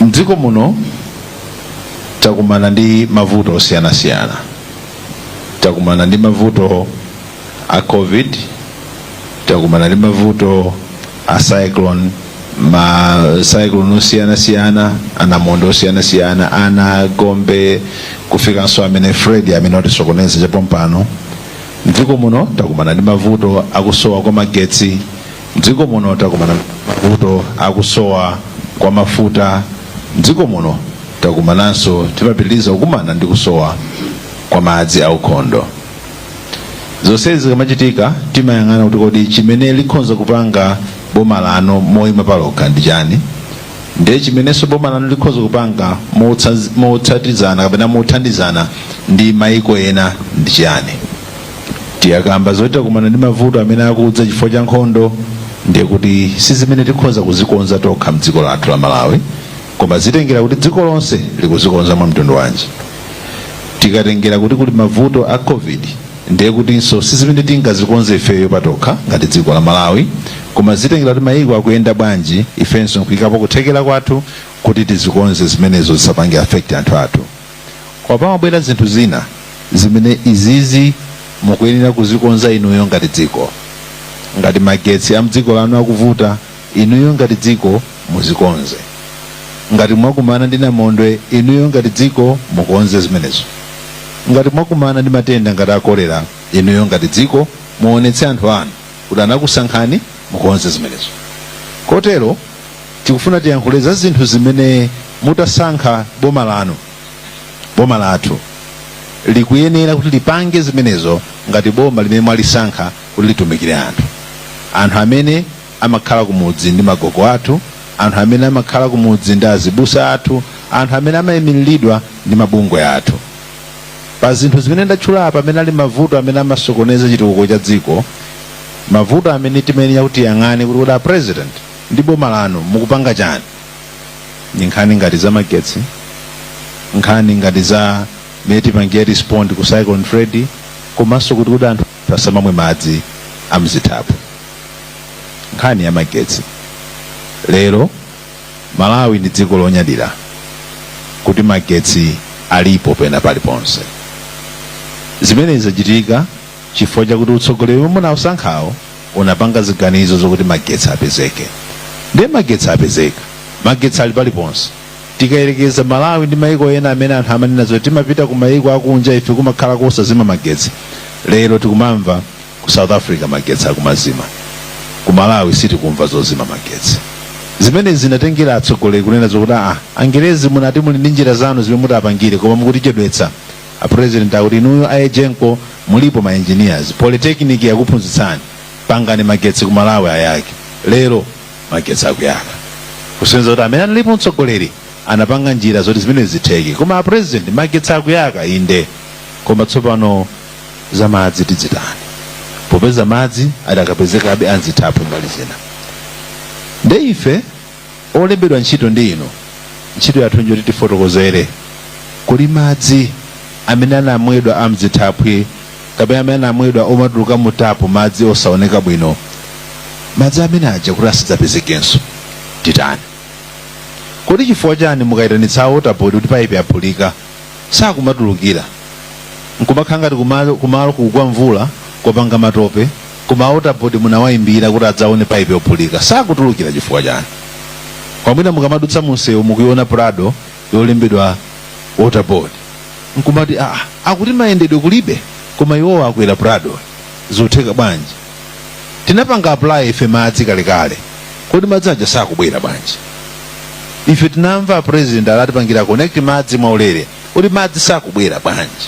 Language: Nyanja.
Mdziko muno takumana ndi mavuto osiyanasiyana. Takumana ndi mavuto a Covid, takumana ndi mavuto a cyclone, ma cyclone osiyanasiyana, anamondwe osiyanasiyana, Ana, Gombe, kufikanso amene Fred amene watisokoneza chapompano. Mdziko muno takumana ndi mavuto akusowa kwa magetsi, Mdziko muno takumana ndi mavuto akusowa kwa mafuta. Mdziko muno takumananso, timapitiliza kukumana ndi kusowa kwa madzi aukhondo. Zonsezi zikamachitika timayang'ana kuti kodi chimene likhonza kupanga boma lanu moyima palokha ndi chani, ndiye chimenenso boma lanu likhonza kupanga motsatizana kapena mothandizana ndi mayiko ena ndi chiyani. Tikakamba zoti takumana ndi mavuto amene akudza chifukwa cha nkhondo ndiye kuti sizimene tikhonza kuzikonza tokha mdziko lathu la Malawi koma zitengera kuti dziko lonse likuzikonza mwa mtundu wanji. Tikatengera kuti kuli mavuto a Covid ndiye kutinso sizimene tingazikonze ifeyo patokha ngati dziko la Malawi koma zitengera kuti mayiko akuyenda bwanji ifenso nkuyikapo kuthekera kwathu kuti tizikonze zimenezo zisapange affect anthu athu. Koma pamabwera zinthu zina zimene izizi mukuyenera kuzikonza inuyo ngati dziko. Ngati magetsi a mdziko lanu akuvuta, inuyo ngati dziko muzikonze. Ngati mwakumana ndi namondwe, inuyo ngati dziko mukonze zimenezo. Ngati mwakumana ndi matenda ngati a kolera, inuyo ngati dziko muonetse anthu anu kuti anakusankhani mukonze zimenezo. Kotero, tikufuna tiyankhule za zinthu zimene mutasankha boma lanu boma lathu likuyenera kuti lipange zimenezo ngati boma limene mwalisankha kuti litumikire anthu anthu amene amakhala kumudzi ndi magogo athu anthu amene amakhala kumudzi ndi azibusa athu anthu amene amayimiriridwa ndi mabungwe athu pa zinthu zimene ndatchula apa amene ali mavuto amene amasokoneza chitukuko cha dziko mavuto amene timayenera kuti tiyang'ane kuti kodi a president ndi boma lanu mukupanga chani ndi nkhani ngati za magetsi nkhani ngati za mmene tipangira respond ku cyclone freddy komanso kuti kodi anthu asamamwe madzi amzithaphwi nkhani ya magetsi lero malawi ndi dziko lonyadira kuti magetsi alipo pena paliponse zimenezi zachitika chifukwa chakuti utsogoleri womwe munausankhawo unapanga ziganizo zokuti magetsi apezeke ndiye magetsi apezeka magetsi ali paliponse tikayerekeza malawi ndi maiko ena amene anthu amanena zoti timapita ku maiko akunja ife kumakhala kosazima magetsi lero tikumamva ku south africa magetsi akumazima ku malawi sitikumva zozima magetsi zimene zinatengera atsogoleri kunena zokuti a angerezi munati muli ndi njira zanu zimene mutatipangire koma mukutichedwetsa a president akuti inuyo a egenco mulipo ma engineers polytechnic yakuphunzitsani pangani magetsi ku malawi ayake lero magetsi akuyaka kusonyeza kuti amene analipo mtsogoleri anapanga njira zoti zimenezi zitheke koma a president magetsi akuyaka inde koma tsopano za madzi tidzitani popeza madzi adakapezekabe a m'zithaphwi mbali zina nde ife olembedwa ntchito ndi inu, ntchito yathu n'njoti tifotokozere kodi madzi amene amamwedwa a m'zithaphwi kapena amene amamwedwa omatuluka mu tapu, madzi osaoneka bwino, madzi amene aja kuti asadzapezekenso titani? Kodi chifukwa chani mukayitanitsa a water board kuti paipi yaphulika sakumatulukira n'kumakhala ngati kumaloko kukugwa mvula kwapanga matope? koma water board munawaimbira kuti adzaone pipe yophulika sakutulukira chifukwa chani mwina mukamadutsa munsewu mukuiona prado yolembedwa water board nkumati ah, akuti mayendedwe kulibe koma iwowa akwera prado zitheka bwanji tinapanga apply ife madzi kalekale kodi madzi aja sakubwera bwanji ife tinamva a president adzatipangira connect madzi mwaulere kodi madzi sakubwera bwanji